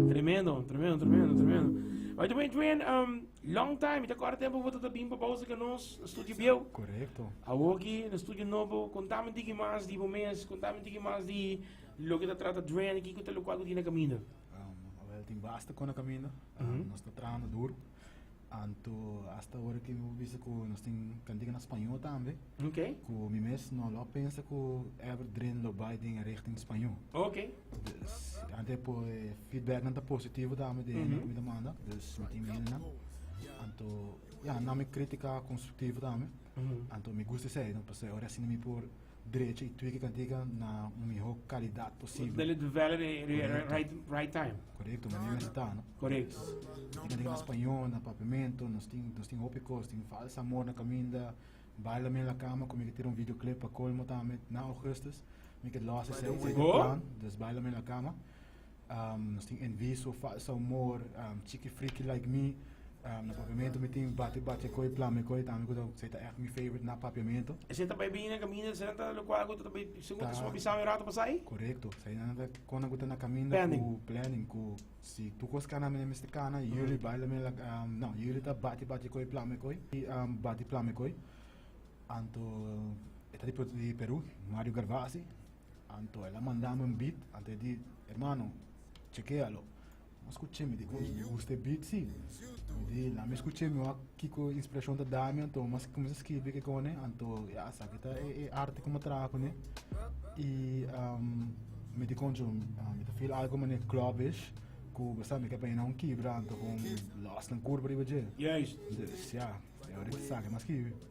Tremendo, tremendo, tremendo, tremendo. By the way, Dwayne, um, long time, ita kora tempo vota ta bimpa pausa ka nos, na studio bieu. Correcto. Awoki, na studio nobo, contame tiki mas di bo mes, contame tiki mas di lo que ta trata Dwayne, kiko ta lo cual ku tina camino. Um, wel, tin basta kona camino. Um, mm -hmm. Nos ta trahando duro. Anto hasta ora ke mi por bisa ku nos tin kantika na spañó tambe. Ok. Ku mi mes no lo pensa ku ever dren lo bai den e richting spañó. Ok. Dus ante po feedbacknan ta positivo tambe den mm -hmm. mi ta manda. Dus mi tin mena. Anto ya na mi kritika konstruktivo tambe. Mm -hmm. Anto mi gusta sei, no, pase ora sin mi por drecha i tue ki ta diga na un mihó kalidat posibel. Dele di vèlere e e e right right time. Korekto, manera mes ta, no? Korekto. Tin ka diga na spañó, na papiamentu, nos tin nos tin hopi kos, tin falsa amor na kaminda, baila mi en la cama ku mi ke tira un video clip pa kolmo tambe na Augustus, mi ke lòs esei, esei ta e plan, dus baila mi en la cama. Nos tin enviso, falso amor, chiki friki like mi. Na papiamento mi tin bati bati e koi, plama e koi, tambe ku ta esei ta echt mi favorite na papiamento. Esei ta bai bini na kaminda, esei nan ta lokual ku ta bai, segun ta su a bisa mi rato pasai? Korekto, esei nan ta kon nan ku ta na kaminda ku planning, ku si tur kos kana mi na mester kana, yuli bai la mi la no yuli ta bati bati e koi, plama e koi, bati plama e koi. Anto e ta di Peru, Mario Garvasi, Anto el a manda mi un beat anto e di, Hermano, chekea lo. Mas skuch'é mi di, Ui, mi gusta e beat si. Mi di, Lami skuch'é, mi wak kiko inspirashon ta da mi, anto mi a kuminsá skirbi kekone, anto ya, esaki ta e arte ku mi a traha kuné. I mi di koncho mi ta feel algu manera clubbish, ku bo sa mi ke bina un kibra, anto kon lòsnan kurba riba dje. Juist. Di, Siá, e ora ki esaki mi a skirbi.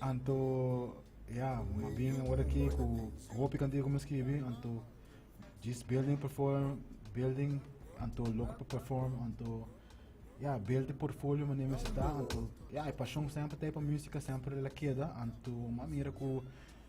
Anto ya mas bien ora aki cu hopi cantidad cu mi a scribi anto djis building perform building anto loco pa perform anto ya build di portfolio manera mi sta anto ya e pasion semper ta ay pa musica semper el a keda anto mi a mira cu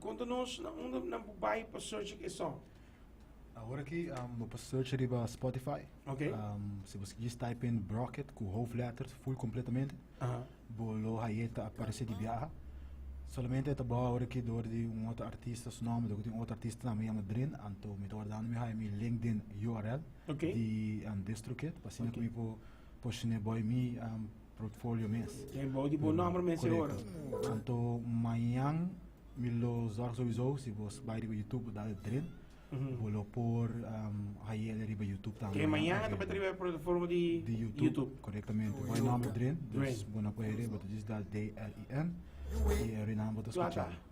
Konta nos na unda nan por bai pa search e song. Awor aki bo por search riba Spotify. Ok. Si bo djis type in Brocket ku hoofdletters full completamente bo lo haye ta aparece di biaha. Solamente ta baha awor aki door di un otro artista su nomber dor di un otro artista tambe yama Drin anto mi ta wardando mi haye mi LinkedIn URL di Distrokid pa asina ku mi por Por shine boy mi portfolio mes. Te bou di bo nomber mes e ora. Korekto. Anto mañan mi lo zorg souiso si bo bai riba YouTube bo dal dren, bo lo por haiele riba YouTube tambe. Te mañana ta bati riba e plataforma di YouTube. Korektamente. Bai nomber dren, dus bo na por haiele, bo ta djis dal DREN i e renan bo ta skucha.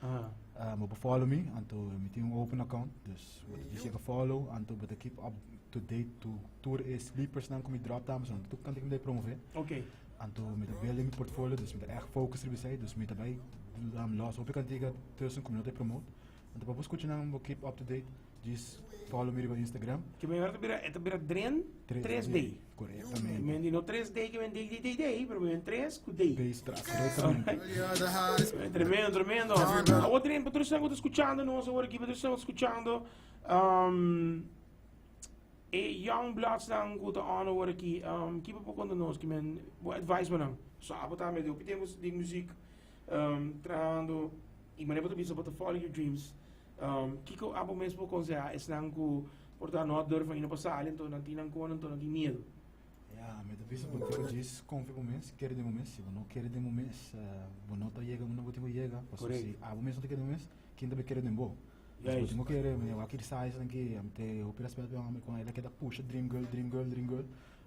Ah. Uh, moet follow me, anto mi tin un open account, dus moet di zeker follow, anto moet keep up to date to tour e sleepers nan kom ik drop dames, want tuk kan ik me promover. Oké. Okay. Anto met de building mi portfolio, dus met echt focus erbij zijn, dus met daarbij um, los hopi kan tegen tussen kom ik promote. Anto pa bus kuchinan keep up to date. Djis follow mi riba Instagram. Ke men ora ta bira, e ta bira Dren 3D. 3D. Correctamente. Men di no 3D ke men day day day day, pero men 3 ku day. Days tras, correctamente. Eh, Tremendo, tremendo. Awor Dren, pa tur esnan ku ta escuchando nos awor aki, pa tur esnan ku ta escuchando, um, e young bloods nan ku ta on awor aki, um, ki pa por konta nos, ki men, bo advice pa nan? So apo ta me hopi tempo di muziek um trabahando y mane bo ta bisa bo ta follow your dreams. Kiko abo mes por konsehá esnan ku por ta no a durf ainda pa sali anto nan tin nan kona anto nan tin miedu? Ya, mi ta bisa bo tin ku djis konfia bo mes, kere den bo mes. Si bo no kere den bo mes, bo no ta yega unda bo tin ku yega. Pasobra si abo mes no ta kere den bo mes, kin ta bai kere den bo? Bo tin ku kere. Mi a wak kiri sa esnan ku, mi tin hopi rèspèt pa e hombre ku unda el a ke ta pusha dream girl, dream girl, dream girl.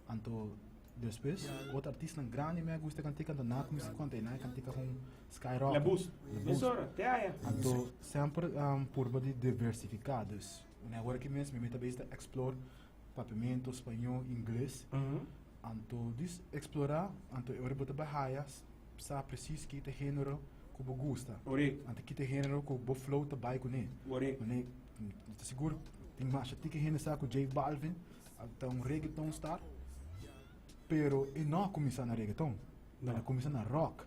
Anto Despues otro artisnan grandi mi a gusta e kantika anto nan a kuminsá ku kanta i nan e kantika kon Sky Rock, Labus, mesora te aya. Anto semper purba di diversifiká dus un ora aki mes mi ta bes ta explore Papiamento, Spañó, Ingles anto dis explorá anto e ora bo ta bai haya sa presis kita e género ku bo gusta anto kita e género ku bo flow ta bai kuné mane mi ta sigur tin masha ti ku hende sa ku J Balvin Ta un reggaeton star pero e no a kuminsá na reggaeton e a kuminsá na rock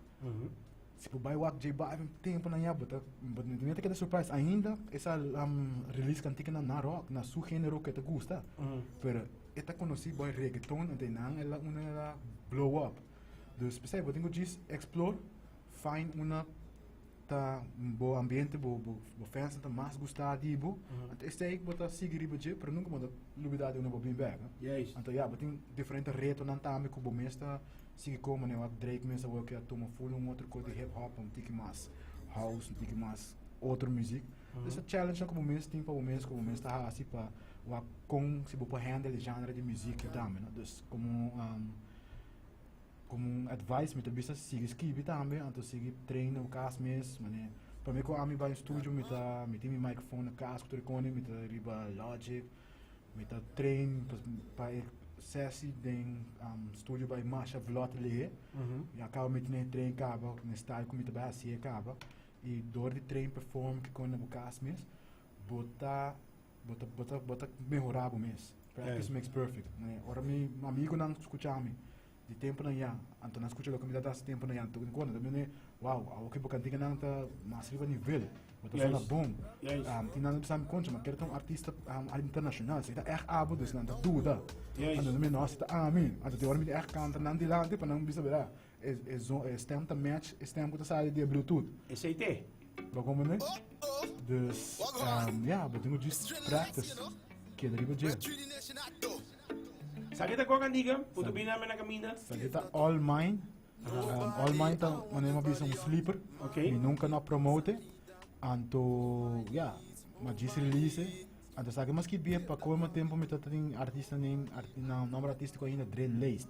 si bo bai wak J Balvin tempunan ya bo ta mi ta keda surprise ainda e sa release kantikinan na rock na su genero ku e ta gusta pero e ta konosí bai reggaeton enta nan e la unda e la blow up dus p'esei bo tin ku djis explore find una ta bo ambiente bo bo bo festa ta mas gusta di bo anto esei ku bo ta sigui riba dje pero nunka bo ta lubida di unda bo bin bek anto ya bo tin diferente retonan tambe ku bo mes ta sigui komo ne wak drake mes awor ke a tuma full un otro kos di hip hop un tiki mas house un tiki mas otro muzik esei challenge nan ku bo mes tin pa bo mes ku bo mes ta hasi pa wak kon si bo por handle e genre di muzik tambe no dus komo. Komo un advice mi ta bisa sigui skibi tambe anto sigui train na bo kas mes manera prome ku ami bai un studio mi ta mi tin mi microphone na kas ku tur e kone mi ta riba logic mi ta train pa e sesi den studio bai masha vlot lehe i a kaba mi tin e train kaba den style ku mi ta bai hasi'e kaba i dor di train perform kikon na bo kas mes bo ta Bo ta, bo ta, bo ta mehorá bo mes. Practice eh. makes perfect. Né? Ora mi amigunan escucha mi, di tempo nan ya, anto nan escucha loke mi ta das tempo nan ya, tukin kona, dan mi wow, awo ki bo kantika nan ta mas riba nivel, bo ta zona bon. Yes. Um, tin nan bisa mi concha, ma kere ta un artista um, internacional, si ta echt abo, dus nan ta duda. Yes. Anto mi, no, si ta ami, anto ti ora mi ta echt canta nan delante, pa nan bisa, verdad? E stem ta match e stem ku ta sali di e bluetooth. Esei t'e. Lo komprende? Dus ya, bo tin ku djis practice. Keda riba dje. Sa ke ta Gog Antiga? Putu bini nan men a kaminda. Sa ke ta All Mine? All Mine ta manera mi a bisa un sleeper. Mi nunka no a promote. Anto ya, mi a djis release e. Anto sa ke mi a skibi e, pa colmo tempo mi ta tin artista, nomber artistico ainda Dre Laced.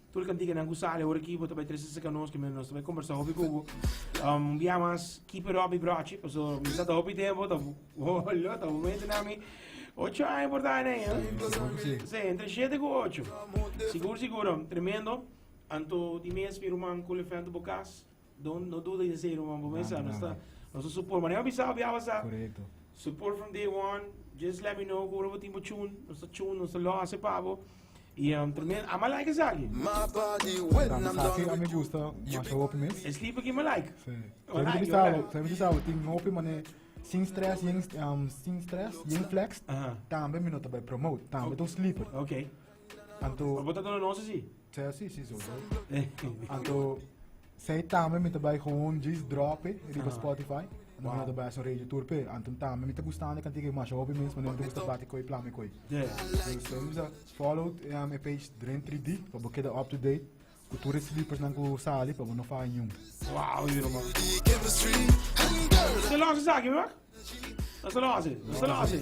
Tur e kantikanan ku sali ora ki bo ta bai trese saka nos ke nos ta bai kombersá hopi ku bo. Un bia mas keep it up mi brochi paso mi sa ta hopi tempo ta lo ta bo mente na mi ocho aña por ta nei eh. Sí. Sí, entre siete ku ocho. Sigur sigur tremendo. Anto di mes mi ruman Kulefento Bokas. No, no duda in esei, ruman. Bo mester, nos ta, nos ta support. Mane a bisa, bia basa. Correcto. Support from day one. Just let me know ku ora bo tin bo tune. Nos ta tune, nos ta lo hace pa bo. Y um, tremendo. Ama like esa aquí. My body when Dame I'm sa done que a mi with you. gusta You más be hopi mes. Es liep aquí, ama like. Sí. Yo Ama like, yo bisa, like. yo bisa, tin hopi mane sin stress, yen um, sin stress, yen flex. Aha. Tambe mi no te bij promote, tambe Okay. to sleeper. Okay. Anto. Bo ta duna nos así? Sea así, sí, so. Anto. Zij tambe mi ta bai gewoon jis drope riba Spotify. Wow. Nada bai so radio tour pe. Anto tambe mi ta gustan de kantige mas hopi mens, maar mi ta gusta bati koi plame koi. Yeah. So, so, follow um, e page Dren 3D, pa bo keda up to date. Ku tur e slipersnan ku sali pa bo no faha niun. Wow yu ruman. Te los esaki bro. No ta los e. No ta los e.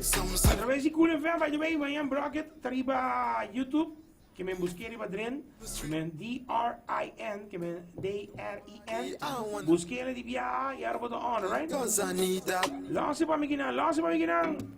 A traves di Cool FM by the way my en brocket ta riba YouTube ke men buske riba dren ke men D R I N ke men D R I N buske ele di biaha y ahora bo ta on right. Los e pa mi kinan. Los e pa mi kinan.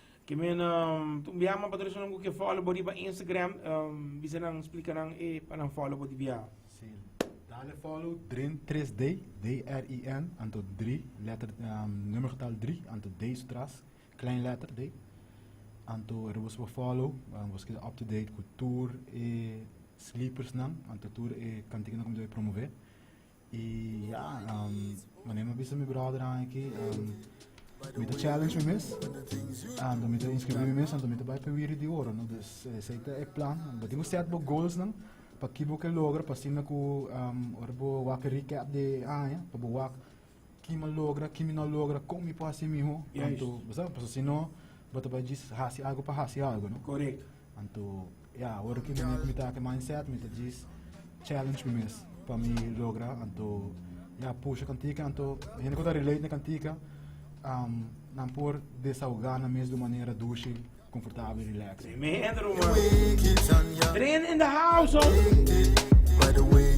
Ke men un bia ma patrocinnan ku ke follow bo riba Instagram bisa nan splika nan e pa nan follow bo di bia. Si dale follow drin 3 day D R I N anto dri letter numero getal dri anto day su tras klein letter day anto er boso por follow boso keda up to date ku tur e slippers nan anto tur e kantiken nan ku mi ta promovee Y ya, mane mi a bisa mi brothernan aki, mi ta challenge mi mes, anto mi ta inscribí mi mes, anto mi ta bai pa e wiri di oro, no? Dus esei ta e plan. Di bo set bo goalsnan, pa ki bo ke logra, pa asinda ku ora bo wak e recap di e aña, pa bo wak ki mi a logra, ki mi no a logra, kon mi por hasi mihó, anto bo sa, pasobra si no bo ta bai djis hasi algu pa hasi algu, no? Anto. Ya, ora ki mi kumintá ku e mindset mi ta djis challenge mi mes pa mi logra anto ya pusha kantika anto hende ku ta relate na kantika nan por desahogá nan mes di un manera dushi, konfortabel i relax. Tremendo ruman. Dren in the house ho.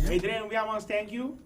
Hey Dren we almost thank you.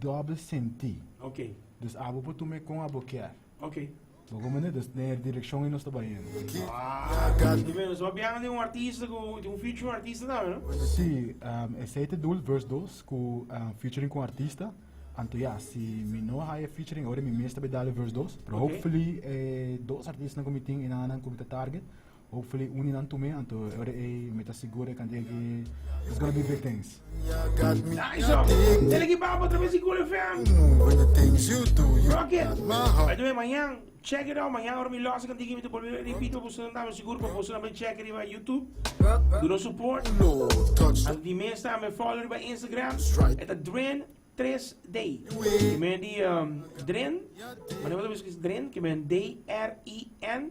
doble sentí. Ok. Dus abo por tuma e kon abo kier. Ok. Bo kon mane, dus den e direkshon ei nos ta bai hende. Wow. Di menos, bo biaha den un artista ku, den un featuring artista tambe, no? Sí, um, esei ta dul, verse dos, ku um, featuring ku un artista. Anto ya, si mi no haya e featuring, ora mi mes ta bai dal e verse dos. Pero Ok. hopefully, e dos artistanan ku mi tin, enan anan ku mi ta target, Hopefully uni nan tume anto e ora ey mi ta sigur e cantidad ki it's gonna be big things. Nice ho! Dele ki baba otra bes di Cool FM. Rocket! By the way, mañan, check it out, mañan ora mi loss e cantidad ki mi ta bolbe repeat pa bosonan tambe, sigur pa boso tambe check riba YouTube. Do nos support. Anto di mes tambe follow riba Instagram. E ta Dren Tres Day. Ki men di Dren, manera bo ta bisa ki es Dren, ki men D-R-E-N.